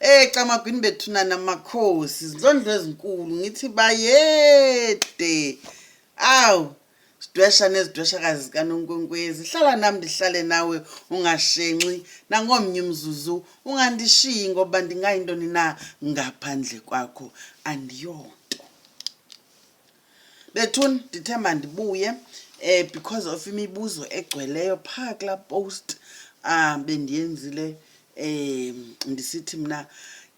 Eh camagwini bethuna namakhosi izindlondlo ezinkulu ngithi bayede aw sidwesha nezidweshakazi zikanonkwenkwezi hlala nam ndihlale nawe ungashenxi nangomnye umzuzu ungandishiyi ngoba ndingayintoni na ngaphandle kwakho andiyonto bethuni ndithe mandibuye um because of imibuzo egcweleyo phaa kulaa post um bendiyenzile um ndisithi mna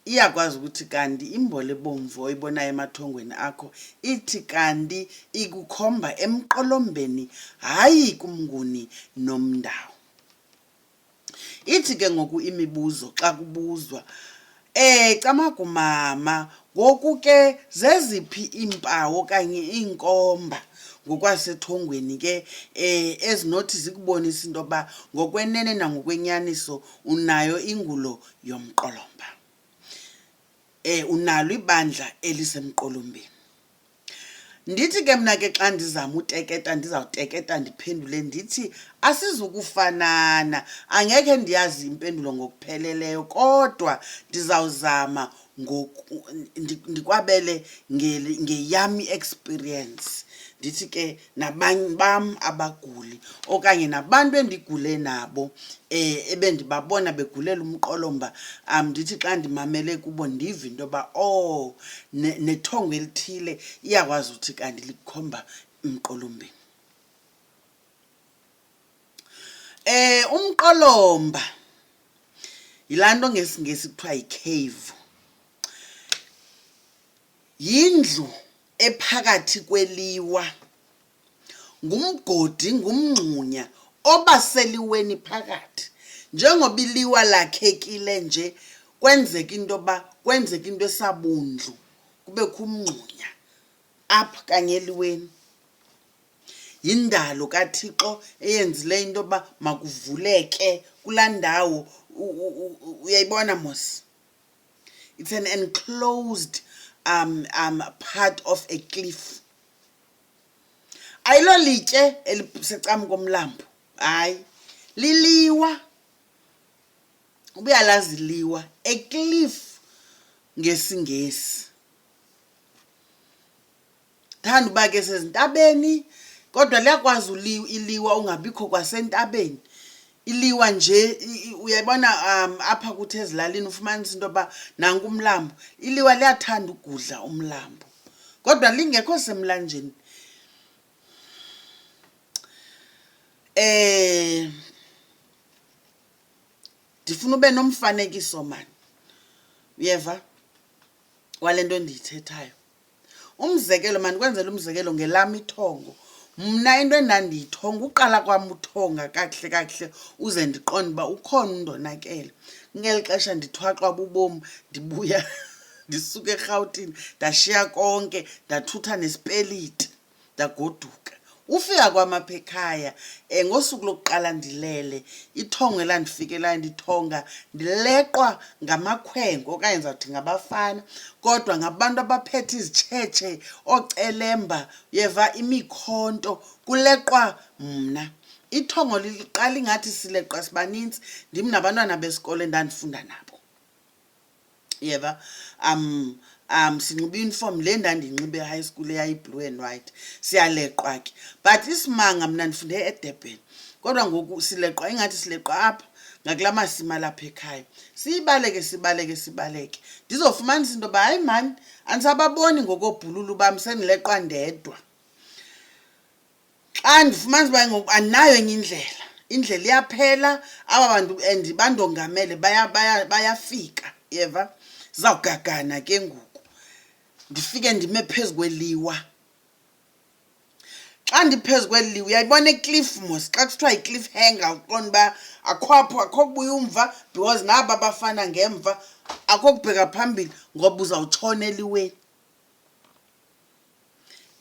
iyakwazi ukuthi kanti imbole ebomvu oyibonayo emathongweni akho ithi kanti ikukhomba emqolombeni hayi kumnguni nomndawo Ithi ke ngoku imibuzo xa kubuzwa eh camagu mama ngoku ke zeziphi iimpawu okanye iinkomba ngokwasethongweni ke eh ezinothi zikubonisa into yokuba ngokwenene nangokwenyaniso unayo ingulo yomqolomba eh unalo ibandla elisemqolombeni Ndithi ke mna ke xa ndizama uteketa ndizawuteketa ndiphendule ndithi asizukufanana. Angekhe ndiyazi impendulo ngokupheleleyo kodwa ndizawuzama ndikwabele ngeyam i-experience. Ndithi ke nabanye bam abaguli okanye nabantu endigule nabo um ebendibabona begulela umqolo mba um ndithi xa ndimamele kubo ndive into yoba o oh, nethongo elithile iyakwazi uthi kanti likhomba umqolombeni eh umqolomba yilanto ngesingesi kuthiwa yicave yindlu ephakathi kweliwa ngumgodi ngumngxunya obaseliweni phakathi njengoba iliwa lakhekile nje kwenzeka into yoba kwenzeka into esabundlu kubekho umngxunya apha kanye eliweni yindalo kathixo eyenzile into yoba makuvuleke kulaa ndawo uyayibona mos It's an enclosed um, um, part of a cliff. Ayilo litye elisecam komlambo. Hayi. Liliwa. Ubuyalazi liwa. A cliff ngesingesi. Thanda uba ke sezintabeni kodwa liyakwazi iliwa ungabikho kwasentabeni iliwa nje uyayibona um apha kuthi ezilalini ufumanisa into yoba nanku umlambo iliwa liyathanda ugudla umlambo kodwa lingekho semlanjeni eh ndifuna ube nomfanekiso mani uyeva wale nto endiyithethayo umzekelo mandikwenzela umzekelo ngelam ithongo mna into endandiyithonga uqala kwam uthonga kakuhle kakuhle uze ndiqonde uba ukhona undonakele ngeli xesha ndithwaxwa bubom ndibuya ndisuka erhawutini ndashiya konke ndathutha nesipeliti ndagoduka ufika kwam apha ekhaya um ngosuku lokuqala ndilele ithongo elandifikelayo ndithonga ndileqwa ngamakhwenko okanye ndizawuthi ngabafana kodwa ngabantu abaphethe izitshetshe oocelemba yeva imikhonto kuleqwa mna ithongo liqala ingathi sileqwa sibaninzi ndim nabantwana besikolo endandifunda nabo yeba um um sinxiba iuniform le ndandiyinxibe e-high school eyayiblue and white siyaleqwa ke but isimanga mna ndifunde edurban kodwa ngoku sileqwa ingathi sileqwa apha ngakula masimi alapha ekhaya siyibaleke sibaleke sibaleke ndizofumanisa into yoba hayi mani andisababoni ngokoobhululu bam sendileqwa ndedwa xa ndifumanisa uba ngoku andinayo enye indlela indlela iyaphela aba bantu and bandongamele bayafika yeva zizawugagana ke ngoku ndifike ndime phezu kweliwa xa ndiphezu kweliwa uyayibona ecliff mos xa kuthiwa yicliff hanger uqonda uba akho apho akho kubuya umva because naba bafana ngemva akho kubheka phambili ngoba uzawutshona eliweni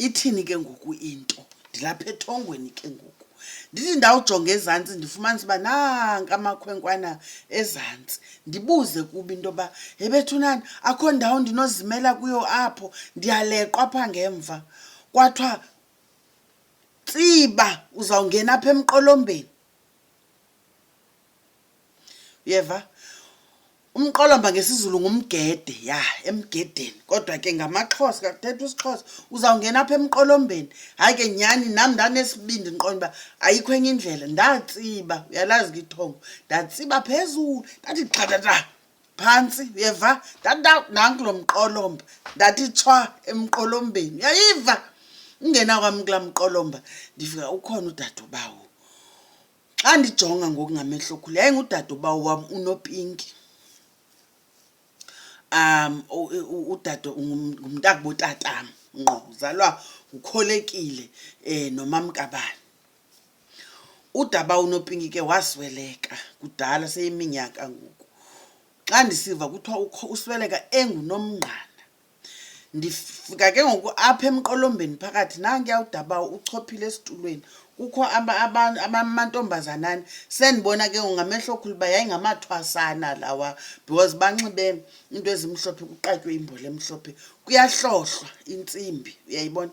ithini ke ngoku into ndilapha ethongweni ke ngoku ndithi ndawujonga ezantsi ndifumanisa uba nanka amakhwenkwana ezantsi ndibuze kuba into yoba hebethunani akho ndawo ndinozimela kuyo apho ndiyaleqwa apha ngemva kwathiwa tsiba uzawungena apha emqolombeni uyeva umqolomba ngesizulu ngumgede ya emgedeni kodwa ke ngamaxhosa kakuthetha isixhosa uzawungena apha emqolombeni hayi ke nyhani nam ndanesibindi ndiqonda uba ayikho enye indlela ndatsiba uyalazi ke ithongo ndatsiba phezulu ndathi xhatata phantsi uyeva nanku lo mqolomba ndathi tshwa emqolombeni uyayiva ungena kwam kulaa mqolomba ndifika ukhona udadobawo xa ndijonga ngokungamehlo khulu yayingudade ubawo wam unopinki um udade ngumntakubotatam ngqo uzalwa ngukholekile um nomamkabani udaba unopinki ke wasweleka kudala seyiminyaka ngoku xa ndisiva kuthiwa usweleka engunomngqana ndifika ke ngoku apha emqolombeni phakathi nankuya udaba uchophile esitulweni kukho amantombazanani sendibona ke ngoku ngamehlo okhulu uba yayingamathwasana lawa because banxibe into ezimhlophe kuqatywe imbole emhlophe kuyahlohlwa intsimbi uyayibona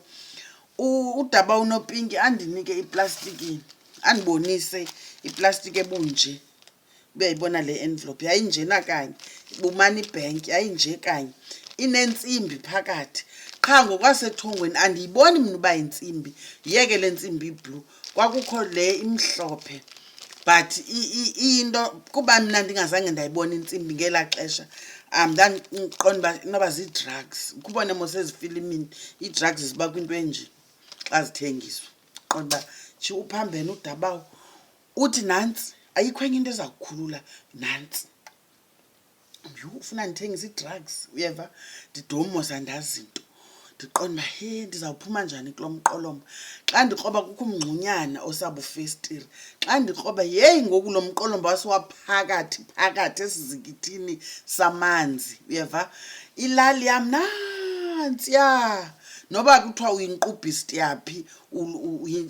udaba unopinki andinike iplastikini andibonise iplastiki ebunje uyayibona le envelope yayinjena kanye bumana ibhenki yayinje kanye inentsimbi phakathi qha ngokwasethongweni andiyiboni mna uba yintsimbi yeke le ntsimbi iblue kwakukho le imhlophe but iyinto kuba mna ndingazange ndayibona intsimbi ngelaa xesha um ndandiqonda uba inoba zii-drugs kubone mos ezifilimini ii-drugs ziba kwinto enje xa zithengiswa qonda uba tsho uphambene udabawo uthi nantsi ayikho enye into eza kukhulula nantsi yhu ufuna ndithengisa ii-drugs uyeva ndidomoza ndazinto ndiqonda uba he ndizawuphuma njani kulo mqolomba xa ndikroba kukho umngxunyana osabufestire xa ndikroba yeyi ngoku lo mqolomba wasiwaphakathi phakathi esizikithini samanzi uyeva ilali yam nantsiya noba kuthiwa uyinkqubhisti yaphi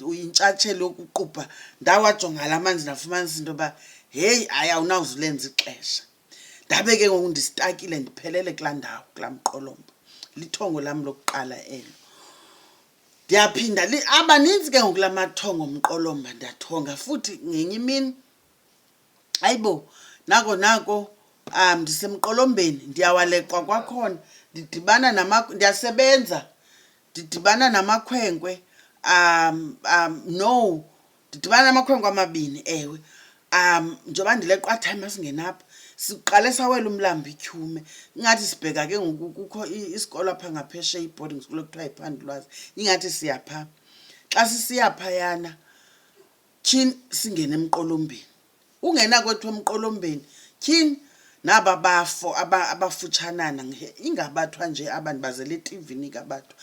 uyintshatshelo yokuqubha ndawajonga la manzi ndafumanisa into yoba heyi hayi awunawuzulenza ixesha ndabe ke ngoku ndisitakile ndiphelele kulaa ndawo kulaa mqolombo lithongo lam lokuqala elo ndiyaphinda abaninzi ke ngoku la mathongo mqolomba ndiyathonga futhi ngenye imini ayibo nako nako um ndisemqolombeni ndiyawalekwa kwakhona ndidibana ndiyasebenza ndidibana namakhwenkwe um um no ndidibana namakhwenkwe amabini ewe um njengoba ndileqwa time asingenapha siqale sawela umlambi ityhume ingathi sibheka ke ngoku kukho isikolo apha ngaphesheya i-boarding school ekuthiwa yiphandulwazi ingathi siya phaa xa sisiya phayana tyhini singene emqolombeni ungena kwethu emqolombeni tyhini naba bafo abafutshanana ingabathwa nje aba ndibazele etivini ingabathwa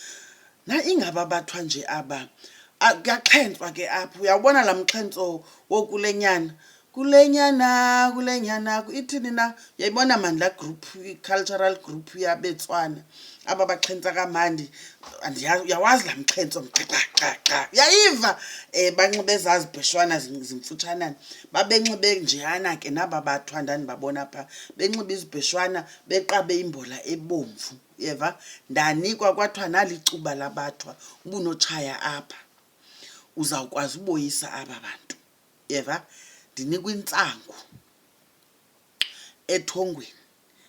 na ingaba bathwa nje aba kuyaxhentswa ke apho uyawubona laa mxhentso wokulenyana kulenyana kulenyana ithini na yayibona mani laa group i-cultural group yabetswana aba baxhentsa kamandi uyawazi laa mxhentso mxaxaxaxa uyayiva um banxibe ezazibheshwana zimfutshanana babenxibe njeyana ke naba bathwa ndandibabona phaa benxibe izibheshwana beqabe imbola ebomvu yeva ndanikwa kwathiwa nalicuba labathwa ubunotshaya apha uzawukwazi uboyisa aba bantu yeva ndinikwa intsangu ethongweni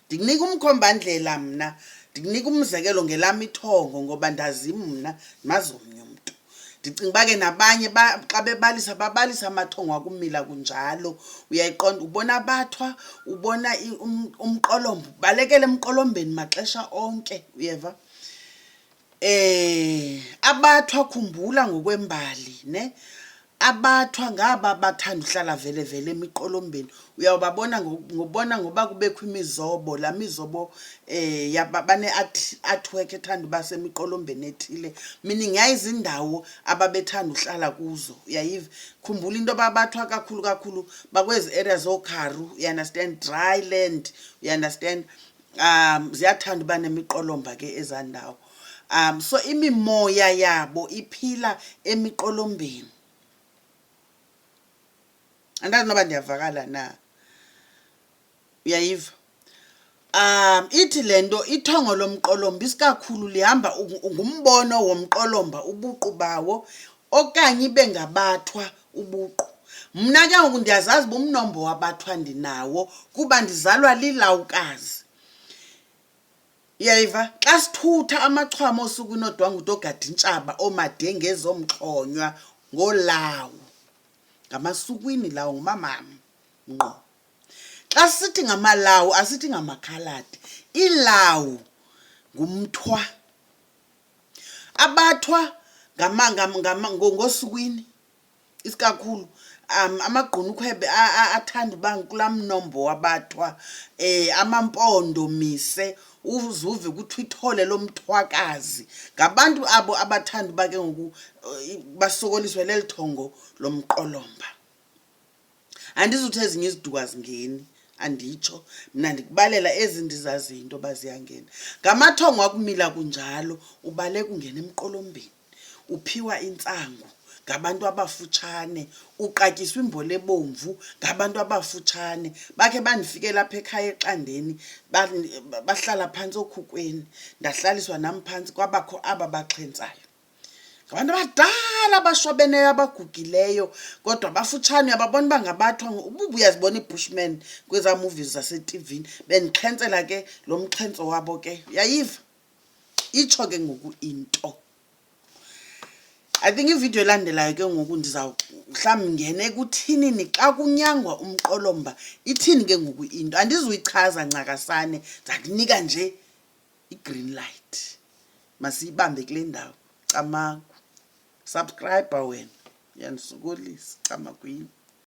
ndikunika umkhombandlela mna ndikunika umzekelo ngelam ithongo ngoba ndazi mna ndimazi omnye umntu ndicinga uba ke nabanye xa bebalisa babalisa amathongo akumila kunjalo uyayiqonda ubona abathwa ubona um, umqolombo balekele emqolombeni maxesha onke uyeva Eh abathwa khumbula ngokwembali ne abathwa ngaba bathanda uhlala vele vele emiqolombeni uyawubabona ngobona ngoba kubekho imizobo la mizobo eh yaba bane artwork ethanda uba semiqolombeni ethile meaning yayizindawo ababethanda uhlala kuzo uyayiva khumbula into ababathwa kakhulu kakhulu bakwezi areas okharu you understand dry land you understand um ziyathanda uba nemiqolomba ke ezaa ndawo um so imimoya yabo iphila emiqolombeni andazi noba ndiyavakala na uyayiva um ithi le nto ithongo lomqolomba isikakhulu lihamba ngumbono womqolomba ubuqu bawo okanye ibe ngabathwa ubuqu mna ke ngoku ndiyazazi uba umnombo wabathwa ndinawo kuba ndizalwa lilawukazi yayiva xa sithutha amachwama osuku inodwanguti ogadintshaba oomadengezi omxhonywa ngolawu ngamasukwini lawo ngumamam ngqo xa sithi ngamalawu asithi ngamakhaladi ilawu ngumthwa abathwa ngosukwini isikakhulu um amagqunukhwe athanda uba kulaa mnombo wabathwa um amampondo mise uzuve kuthiwa ithole lomthwakazi ngabantu abo abathanda uba ke ngoku eh, basokoliswe leli thongo lomqolomba andizuthi ezinye iziduko azingeni anditsho mna ndikubalela ezi ndizaziyo into yoba ziyangena ngamathongo akumila kunjalo ubaleka ungena emqolombeni uphiwa intsangu ngabantu abafutshane uqatyiswa imbole ebomvu ngabantu abafutshane bakhe bandifike lapha ekhaya exandeni bahlala phantsi okhukweni ndahlaliswa nam phantsi kwabakho aba baxhentsayo ngabantu abadala abashwabeneyo abagugileyo kodwa bafutshane ababona uba ngabathwa ububa uyazibona ibushman kwezaa movies zasetivini bendixhentsela ke lo mxhentso wabo ke uyayiva itsho ke ngoku into i think ividiyo elandelayo ke ngoku ndizawuhlawumbi ngene kuthinini xa kunyangwa umqolomba ithini ke ngoku into andizuyichaza ncakasane ndakunika nje i-green light masiyibambe kule ndawo camagu subscribe wena uyandisokolisa camakwini